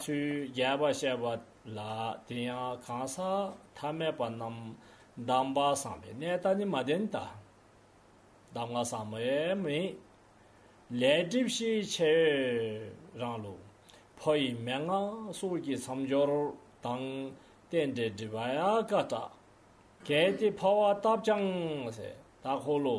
ཚུལ་རྒྱས་པར་བཤད་པ་ལ་དེ་ཡང་གང་ཟག་ཐ་མལ་པ་རྣམས་གདམས་པ་བཟང་པའི་གནས་ལྟ་ནི་མ་བདེན་ད། གདམས་ངག་བཟང་མོའི་མིང་ལས་སྒྲིབ་བཞི་ཕྱེད་ཡོད་རང་ལུགས་ཕོ་ཡི་མན་ངག་གསུར་གྱི་མཚམས་སྦྱོར་དང་རྟེན་འབྲེལ་སྒྲིབ་པ་ཡང་དཀའ། གལ་ཏེ་འཕོ་བ་བཏབ་ཀྱང་ཟད་ད་འཁོར་ལོ།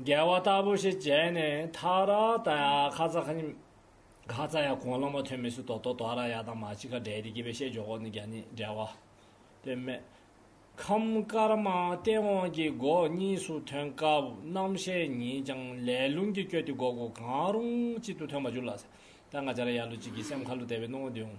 རྒྱལ་བ་ལྟ་བུ་ཞིག་བྱས་ནས་མཐའ་ར་ད་ཡ་ཁ་ཙ་ཁ་ཉིམ། ཁ་ཙ་ཡ་གོང་ལོ་མ་ཐོན་མི་སུ་དོ་དོ་དོ་ར་ཡ་དང་མ་ཅི་ཁ་འདྲེ་དེ་སྐྱེས་པའི་ཤད་འཇོག་གོ་ནི་རྒྱ་ནི་འདྲེ་བ། དེ་མེ། ཁམས་དཀར་མ་སྟེ་འོང་གི་སྒོ་གཉིས་སུ་ཐོན་སྐབས་རྣམ་ཤེས་ཉིད་ཀྱང་ལས་རླུང་གིས་བསྐྱོད་དེ་སྒོ་སྒོ་གང་རུང་གཅིག་ཏུ་ཐོན་པ་འགྱུར་ལགས། ད་ང་ཅ་ར་ཡ་ལུ་གཅིག་གིས་སེམས་ཁ་ལུ་དད་པའི་སྣང་བ་འདི་འོང།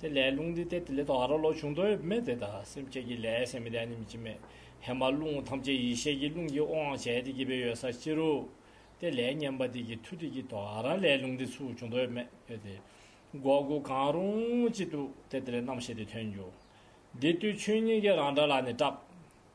དེ་ལས་རླུང་འདི་སྟེ་དེ་ལས་དང་ར་ལོ་བྱུང་དོན་ཡོད་མེད་དེ་དག་སེམས་བསྐྱེད་ཀྱི་ལས་སེམས་ལས་ནི་མི་བྱེད་མེད་ཧེ་མ་རླུང་ཐམས་ཅད་ཡེ་ཤེས་ཀྱི་རླུང་གིས་དབང་བྱས་ཏེ་སྐྱེད་པའི་ཡོད་ས་ཕྱི་རུ། དེ་ལས་ཉམས་པ་དེ་ཀྱི་མཐུ་དེ་ཀྱི་དང་ར་ལས་རླུང་འདི་ཚུགས་བྱུང་དོན་ཡོད་མེད་ཡོད་དེ། འགོག་དགུ་གང་རུང་ཅི་འདུག་དེ་དེ་ལས་རྣམ་ཤེས་དེ་ཐོན་འགྱུར། འདི་ལྟོས་ཆོས་ཉིད་ཀྱི་རང་སྒྲ་ལ་ནི་སྐྲག།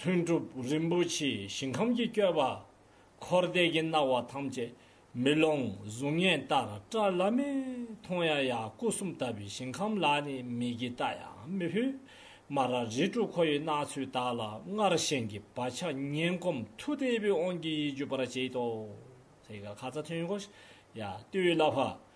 ལྷུན་གྲུབ་རིན་པོ་ཆེའི་ཞིང་ཁམས་ཀྱི་བསྐྱོད་པ། འཁོར་འདས་ཀྱི་སྣང་བ་ཐམས་ཅད་མེ་ལོང་གཟུགས་བརྙན་ལྟར་བཀྲ་ལ་མེ་མཐོང་ཡང་ཡང་སྐུ་གསུམ་ལྟ་བུའི་ཞིང་ཁམས་ལ་ནི་མིག་གིས་བལྟ་ཡང་མི་ཕུད། སྨ་ར་རི་ཀྲུ་ཁོ་ཡི་སྣང་ཚུལ་དག་ལ་སྔར་བཞིན་གྱི་བག་ཆགས་ངན་གོམས་མཐུ་དལ་བུས་དབང་གིས་ཡིད་འཇུག་པར་བྱེད་དོ། ཡ། ལྟོས་ལ་བྷ།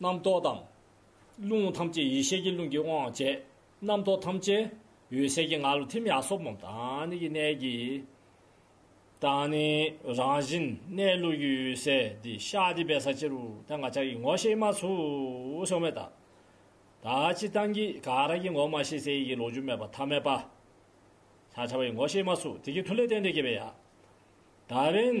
རྣམ་རྟོག་དང། རླུང་ཐམས་ཅད་ཡེ་ཤེས་ཀྱི་རླུང་གིས་དབང་བྱས། རྣམ་རྟོག་ཐམས་ཅད་འོད་གསལ་གྱི་ངང་ལ་ཐིམ་ཡང་སྲོག་སྨོན་དང་ནི་ཀྱི་གནད་ཀྱིས། དང་ནི་རང་བཞིན་གནས་ལུགས་ཀྱི་འོད་གསལ་འདི་ཤཱ་ཏི་པའི་ས་ཕྱི་རུ་ཐལ་འགག་ཆགས་ཀྱི་ངོ་ཤེས་མ་ཚུགས་སོང་བས་ད་ལྟ་སྤྱི་གཏང་གི་ག་རང་གི་ངོ་མ་ཤེས་གསལ་ཡི་གེ་ལོག་འཇུག་མེད་པ་ཐ་མལ་པ། ཤཱ་ཆ་བ་ཡི་ངོ་ཤེས་མ་ཚུགས་དེ་ཀྱི་མཐུ་ལས་རྟེན་འབྲེལ་སྐྱེས་པས་ཡང། ད་རིང།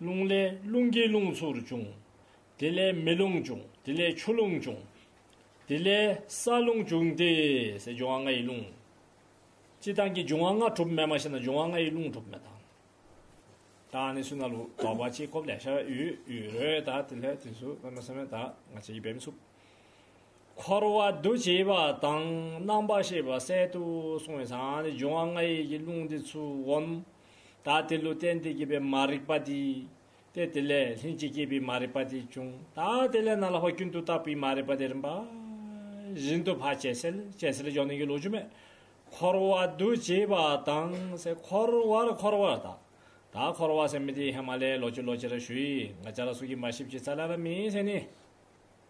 རླུང་ལས་རླུང་གིས་རླུང་ཚུར་བྱུང། དེ་ལས་མེ་རླུང་བྱུང་དེ་ལས་ཆུ་རླུང་བྱུང། དེ་ལས་ས་རླུང་བྱུང་དེས་སའི་འབྱུང་བ་ལྔ་ཡི་རླུང། སྤྱི་བཏང་གི་འབྱུང་བ་ལྔ་གྲུབ་མེད་མ་ཤེས་ན་འབྱུང་བ་ལྔ་ཡི་རླུང་གྲུབ་མེད་དང། དང་ནི་སུན་ན་ལུ་ལོག་པ་ཅི་ཁོབ་ལས་ཤ་བའི་ཡུལ་ཡུལ་རོའི་དག་དེ་ལྷའི་དུས་སུ་སྔ་མ་སེམས་མེད་དག་ང་ཆེ་ཡི་བེམ་ཆུབ། འཁོར་བ་འདུ་བྱེད་པ་དང་རྣམ་པར་ཤེས་པ་གསལ་དུ་སོང་བས་དང་ནི་འབྱུང་བ་ལྔ་ཡི་རླུང་དེ་ཚུར་འོང། དག་དེ་ལུས་རྟེན་དེ་སྐྱེས་པའི་མ་རིག་པ་དེ་སྟེ་དེ་ལས་ལྷན་ཅིག་སྐྱེས་པའི་མ་རིག་པ་དེ་བྱུང་དག་དེ་ལས་ན་ལ་བ་རྒྱུན་དུ་བརྟགས་པའི་མ་རིག་པ་དེ་རིམ་པ་བཞིན་དུ་བར་ཆད་སེལ་ཅེས་སེལ་སྦྱོང་ནན་གྱིས་ལོ་ཆུ་མེ་འཁོར་བ་འདུ་བྱེད་པ་དང་སེ་འཁོར་བར་འཁོར་བ་དག་དག་འཁོར་བ་སེམས་མེ་དེའི་ཧེ་མ་ལའི་ལོ་ཆུ་ལོ་ཅི་ར་ཞུ་ཡིས་ང་ཅག་ལ་སུ་གི་མ་ཞིབ་ཅིག་ཚ་ལ་ར་མིའི་སེམས་ནི།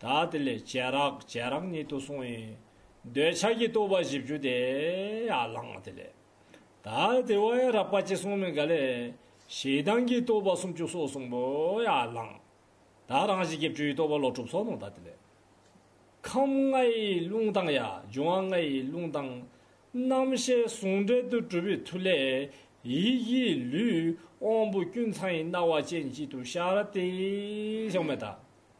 ད་དེ་ལས་བྱས་རག་བྱས་རག་ཉིད་དུ་གསུངས་ཡིན། འདོད་ཆགས་ཀྱི་རྟོག་པ་བཞི་བཅུ་དེ་ཡང་བླངས་དེ་ལས། ད་དེ་བ་ཡང་རག་པ་ཅི་གསུངས་མིན་ག་ལས། ཞེ་སྡང་གི་རྟོག་པ་སུམ་ཅུ་སོགས་གསུངས་པོ་ཡང་བླངས། ད་རང་བཞིན་གྱི་བཅུའི་རྟོག་པ་ལོག་གྲུབ་སོགས་གནང་ད་དེ་ལས། ཁམས་ལྔའི་རླུང་དང་ཡང་འབྱུང་བ་ལྔའི་རླུང་དང། རྣམ་ཤེས་ཟུང་འབྲེལ་དུ་གྲུབ་པའི་མཐུ་ལས། ཡིད་ཀྱི་ལུས་དབང་པོ་ཀུན་ཚང་ཡི་སྣང་བ་ཅན་གཅིག་ཏུ་ཤར་ཏེ། ཞེས་སྨྲས་ད།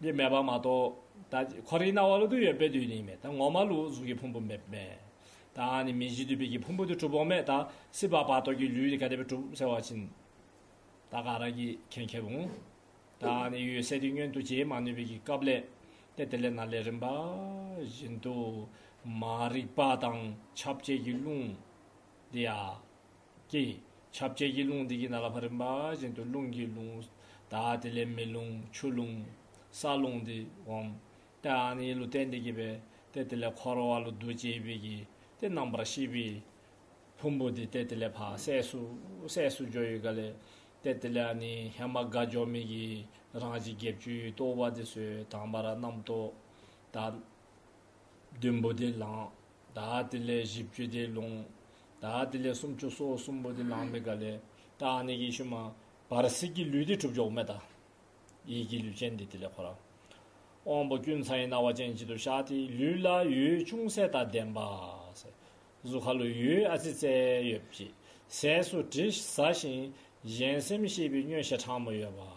འདི་མེད་པ་མ་གཏོགས་ད་ཁོ་རེའི་སྣང་བ་ལུག་དུག་ཡོད་པས་དུས་ནི་མེད་ད་ངོ་མ་ལུག་གཟུགས་ཀྱི་ཕུང་པོ་མེད་མེད་དང་ནི་མི་གཞི་དུད་པའི་གྱི་ཕུང་པོ་དུ་གྲུབ་བོ་མེད་ད་སྲིད་པ་བར་དོ་གྱི་ལུས་ནི་ག་དེ་བས་གྲུབ་ཟེར་བ་ཕྱིན་ད་ག་རང་གིས་ཁེན་ཁེ་རུང་ད་ནི་ཡོད་སའི་དུས་སྙོན་དུ་བྱེད་མ་ནུས་པའི་གྱི་སྐབས་ལས་ཏེ་དེ་ལས་ན་ལས་རིམ་པ་བཞིན་དུ་མ་རིག་པ་དང་ཁྱབ་བྱེད་ཀྱི་རླུང་འདི་ཡ། ཀྱེ། ཁྱབ་བྱེད་ཀྱི་རླུང་དེ་ཀྱི་ནང་ལ་བ་རིམ་པ་བཞིན་དུ་རླུང་གི་རླུང། དག་དེ་ལས་མེ་རླུང་ཆུ་རླུང། ས་རླུང་དེ་འོང། དེའང་ནི་ལུས་རྟེན་འདི་གྱིས་པས་ཏེ་དེ་ལས་འཁོར་བ་ལུས་རྡོ་རྗེའི་དབྱིབས་ཀྱིས་ཏེ་རྣམ་པར་ཤེས་པའི། ཕུང་པོ་དེ་ཏེ་དེ་ལས་འཕགས་སད་སུ། སད་སུ་སྦྱོར་ཡུལ་ག་ལས། ཏེ་དེ་ལས་ནི་ཧེ་མ་དགའ་སྦྱོར་མིག་གི་རང་བཞིན་བརྒྱད་བཅུའི་ལྟོ་བ་དེ་སོས་དང་བ་ར་རྣམ་རྟོག། དག། བདུན་པོ་དེ་ལངས། དག་དེ་ལས་བཞི་བཅུ་དེ་ལོངས། དག་དེ་ལས་སུམ་བཅུ་སོ་གསུམ་པོ་དེ་ལངས་མི་དགའ་ལས། དག་ནི་ཡེ་ཤུ་མ། བར་སྲིད་ཀྱི་ལུས་དེ་གྲུབ་འཇོག་མེད། དག་ཡིད་ཀྱི་ལུས་ཅན་དེ་དེ་ལས་འཁོར། དབང་པོ་ཀུན་ཚང་ཡི་རྣ་བ་ཅན་གཅིག་ཏུ་ཤར་ཏེ་ལུས་ལ་ཡུལ་ཅུང་ཟད་དང་ལྡན་པ། གཟུགས་ཁ་ལོ་ཡུལ་ཨ་ཙི་ཙེ་ཡོད་པ་ཅིག་ཟས་སུ་དྲི་ཟ་ཞིང་གཞན་སེམས་ཤེས་པའི་སྨྱོན་བྱེད་ཕྲ་མོ་ཡོད་པ།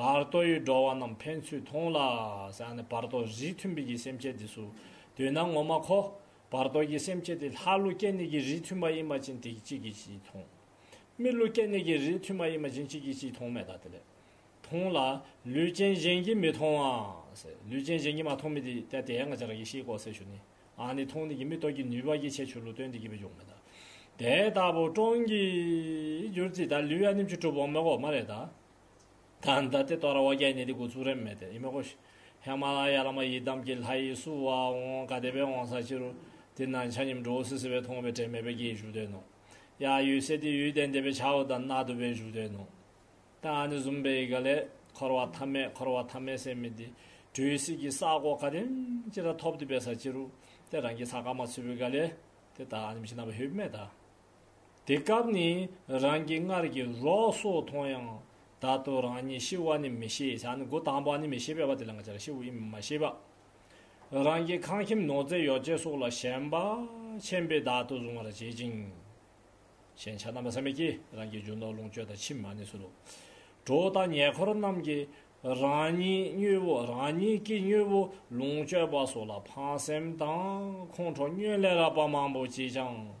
བར་དོ་ཡི་འགྲོ་བ་རྣམས་ཕན་ཚུན་མཐོང་ལ། བར་དོ་བཞིའི་མཐུན་དཔེ་གྱི་སེམས་བསྐྱེད་དེ་སུ་དུས་ན་ངོ་མ་གོ། བར་དོ་གྱི་སེམས་བསྐྱེད་དེ་ལྷ་ཀླུ་སྐྱེ་གནས་ཀྱི་རིས་མཐུན་པ་ཡིན་མ་ཅིན་དེ་གཅིག་གིས་གཅིག་མཐོང། མི་ཀླུ་སྐྱེ་གནས་ཀྱི་རིས་མཐུན་པ་ཡིན་མ་ཅིན་གཅིག་གིས་གཅིག་མཐོང་མེད་ད་དེ་ལས། མཐོང་ལ། ལུས་ཅན་གཞན་གྱིས་མི་མཐོང་བ། ལུས་ཅན་གཞན་གྱིས་མ་མཐོང་མི་དེ་ལྟ་དེ་ཡང་ཅར་གྱིས་ཤེས་གོ་ཟེར་ཞུ་ནི། ཨ་ནི་མཐོང་ནི་གྱི་མི་རྟོག་གི་ནུས་པ་གྱིས་ཆེས་ཆུ་ལུགས་སྟོན་དེ་གྱི་བུ་འཇུག་མེད་ད། དེ་ལྟ་བུ་སྟོང་གིས་གྱུར་ཅིག་ད་ལུས་ཡ་ནིམ་ཆུ་གྲུབ་བོ་མོ་གོ་མ་རེད་ད། དང་ད་ལྟའི་ཏོ་ར་བ་རྒྱ་ནི་དེ་གུ་ཚུགས་རེམ་མེད་དེ་ཡི་མེ་གོ་ཞེས། ཧེ་མ་ལ་ཡ་ལ་མ་ཡི་དམ་གྱི་ལྷ་ཡི་སུ་བ་འོང་ག་དེ་བས་འོང་ས་ཅི་རུ། དེ་ན་ཆ་སྙེམས་འགྲོ་བོ་སི་སི་བས་མཐོང་བའི་དྲན་མེད་པའི་རྒྱའི་བཞུགས་སྟོན་ནོ། ཡ་ཡུལ་སེ་དེ་ཡུལ་བསྟན་དེ་བས་ཆ་བོ་དང་ན་དུ་བའི་བཞུགས་སྟོན་ནོ། ད་ནི་བཟུམ་པའི་ཡི་ག་ལས། འཁོར་བ་ཐ་མས་འཁོར་བ་ཐ་མས་སེམས་མི་དེ། དྲོད་ཡི་སྲིད་ཀྱི་ས་གོ་ག་དེ་ཅི་ར་ཐོབ་དེ་བས་ས་ཅི་རུ། དེ་རང་གི་ས་ཀ་མ་ཆུ་བོའི་ག་ལས། དེ་ད་ནི་མི་ཤི་ན་བ་ཧེ་བི་མས་ད། དེ་སྐབས་ནི་རང་གི་སྔར་གྱི་རོགས་སོགས་མཐོང་ཡང། ད་དུ་རང་ཉིད་ཤི་བ་ནི་མི་ཤེས་བྱ་ནི་སྒོ་དང་པོ་ནི་མི་ཤེས་པས་བ་དེ་ལ་ང་ཅག་ཤི་བ་ཡིན་མིན་མ་ཤེས་པ། རང་གི་ཁང་ཁྱིམ་ནོར་རྫས་ཡོ་བྱད་སོགས་ལ་ཞེན་པ་ཆེན་པོས་བདག་ཏུ་བཟུང་བར་བྱེད་ཅིང། ཞན་ཆ་རྣམ་པ་ཟད་མེད་ཀྱིས་རང་གི་རྒྱུ་ནོར་ལོངས་སྤྱོད་དང་ཕྱི་མ་ནི་སུ་རུ་གྲོགས་དང་ཉེ་འཁོར་རྣམས་ཀྱིས་རང་ཉིད་སྙུད་བོ་རང་ཉིད་ཀྱིས་སྙུད་བོ་ལོངས་སྤྱོད་པ་སོགས་ལ་ཕངས་སེམས་དང་ཁོང་ཁྲོ་སྙོན་ལས་རགས་པ་མང་པོ་བགྱིས་ཀྱང།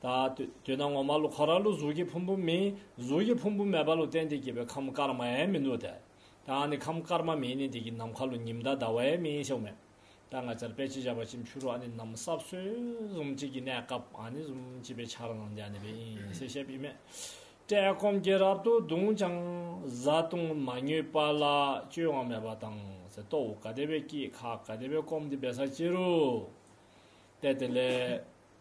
ད་དུས་ན་ངོ་མ་ལུ་ཁ་ར་ལུ་གཟུགས་ཀྱི་ཕུང་པོ་མིན་གཟུགས་ཀྱི་ཕུང་པོ་མེད་པ་ལུ་གཏན་བདེ་སྐྱེས་པའི་ཁམས་སྐར་མ་ཡན་མིན་ནོ་ད་ད་ནི་ཁམས་སྐར་མ་མིན་ནི་འདི་ཀྱི་ནམ་མཁའ་ལུ་ཉི་མདའ་ཟླ་བ་ཡན་མིན་ཤོག་མེད་ད་ང་ཅར་པད་ཕྱི་བྱ་བ་ཅིམ་ཕྱུ་རུ་ཨ་ནི་ནམ་གསར་བསོད་གཟུམ་གཅིག་གི་གནས་སྐབས་ཨ་ནི་གཟུམ་གཅིག་པའི་ཆར་ནང་འཇའ་ནི་པའི་ཨིན་སེ་ཤེ་པི་མེད་བཀྲེས་སྐོམ་གྱིས་རབ་ཏུ་གདུངས་ཀྱང་བཟའ་བཏུང་མ་ཉོས་པ་ལ་སྤྱོད་དབང་མེད་པ་དང་ཟེ་ཏོག་འུ་ག་དེ་བས་སྐྱིད་ཁ་ག་དེ་བས་སྐོམ་དེ་བས་ཟ་སྐྱིད་རུ་གཏད་དེ་ལས།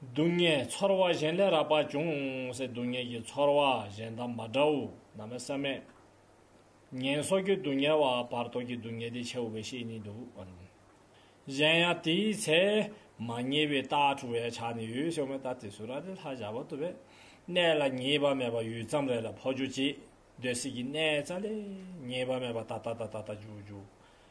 སྡུག་བསྔལ་ཚོར་བ་གཞན་ལས་རགས་པ་ཅུང་ཟད་སྡུག་བསྔལ་གྱི་ཚོར་བ་གཞན་དང་མ་འདྲ་བོ་ནམ་མེད་སེམས་མེད། ངན་སོགས་ཀྱི་སྡུག་བསྔལ་བ་བར་དོ་ཀྱི་སྡུག་བསྔལ་དེ་ཆེ་བ་བས་ཤེས་ནི་འདུག་བ། གཞན་ཡང་དེའི་ཚེ་མ་ངེས་པའི་རྟགས་དྲུག་བའི་ཆ་ནས་ཡོད་ཞོག་མེད་ལྟ་དེ་སུ་ར་ཏི་ལྷ་བཞག་བར་དོ་བས་གནས་ལ་ངེས་པ་མེད་པ་ཡུད་ཙམ་རེ་ལ་འཕོ་འགྱུར་གྱིས་འདོད་སྲིད་ཀྱི་གནས་ཙལ་ལས་ངེས་པ་མེད་པ་ད་ལྟ་ད་ལྟ་ད་ལྟ་འགྱུར་འགྱུར།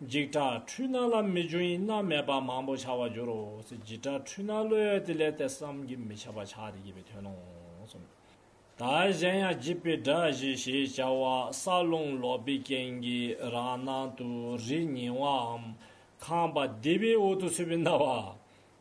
འཇིགས་སྐྲག་འཁྲུལ་སྣང་ལ་མི་འཇུག་ཡིན་ན་མེད་པ་མང་པོ་བྱ་བར་འགྱུར་རོ། འཇིགས་སྐྲག་འཁྲུལ་སྣང་བློས་དེ་ལས་དེ་བསམ་གྱིས་མི་ཁྱབ་པ་ཆགས་ཏེ་སྐྱེས་པའི་དོན་ནོ། ད་གཞན་ཡང་བགྱིད་པའི་སྒྲ་བཞི་ཞེས་བྱ་བ་ས་རླུང་ལོག་པའི་རྐྱེན་གྱིས་རང་སྣང་དུ་རིས་ཉེ་བའམ་ཁང་པ་བདེ་བའི་འོག་ཏུ་ཚུད་པའི་རྣ་བ།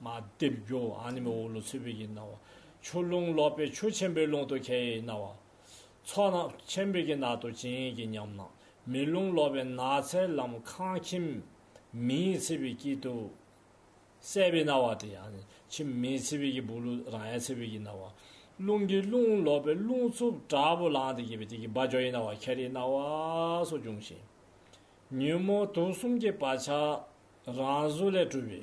མ་སྡེབ་སྒྱུ་ཨ་ནི་མི་འོ་ལོ་ཚུལ་བུ་ཡི་སྣང་བ། ཆུ་ཀླུང་ལོག་པའི་ཆུ་ཆེན་པོའི་ཀླུང་དུ་ཁྱེད་ཡི་སྣང་བ། ཚོགས་ནག་ཆེན་པོའི་གྱི་ནག་ཏུ་བྱིན་གྱིས་ཉམས་ན། མེ་རླུང་ལོག་པའི་ནགས་ཚལ་ལམ་ཁང་ཁྱིམ་མིའི་ཚེ་བི་དཀྱིལ་དུ། གསལ་བའི་སྣང་བ་སྟེ་ཨ་ནི་ཁྱིམ་མིའི་ཚེ་བི་གྱི་བུ་ལུ་རང་ཡའི་ཚེ་བི་གྱི་སྣང་བ། རླུང་གི་ཀླུང་ལོག་པའི་རླུང་རྩུབ་དྲག་པོ་ལངས་ཏེ་གྱེས་པའི་དེ་གྱི་བ་ཇོ་ཡི་སྣང་བ་ཁྱེར་ཡི་སྣང་བ་སོགས་འབྱུང་ཞིང། ཉོན་མོངས་དུག་གསུམ་གྱི་བག་ཆགས་རང་གཟུགས་ལས་གྲུབ་པའི།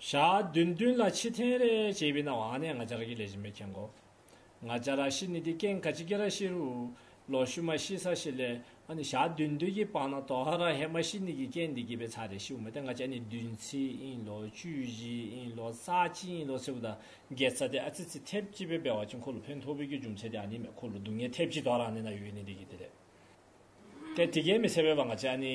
ཞག་བདུན་བདུན་ལ་ཕྱི་ཐེངས་རེ་ཅེས་པའི་ནང་བ་ནས་ང་ཅར་གྱི་ལས་བྱེད་མི་ཁྱེར་འགོ། ང་ཅར་ར་ཤི་ནི་དེ་ཀེང་ག་ཅི་ཀེ་ར་ཤི་རུ་ལོ་ཤུ་མ་ཤི་ས་ཤི་ལས་ཨ་ནི་ཞག་བདུན་བདུན་གྱི་པང་ན་དོ་ཧ་ར་ཧེ་མ་ཤི་ནི་གི་ཀེང་འདི་གི་པའི་ཚ་རེ་ཤི་བུ་མ་དེ་ང་ཅར་ནི་བདུན་ཚི་ཨིན་ལོ་བཅུ་བཞི་ཨིན་ལོ་རྩ་གཅིག་ཨིན་ལོ་ཚི་བུ་དང་འགལ་ཚ་དེ་ཨ་ཚི་ཚི་ཐེབས་གཅིག་པའི་པའི་བ་ཅི་འཁོར་ལོ་ཕན་ཐོག་བུ་གྱི་ཅུང་ཚེ་དེ་ཨ་ནི་མེ་འཁོར་ལོ་སྡུག་བསྔལ་ཐེབས་གཅིག་དོ་ཧ་ར་ནི་ན་ཡོད་ནི་འདི་གི་དེ་རེད་དེ་དེ་ཀེང་མི་ཚེ་བའི་བ་ང་ཅར་ནི།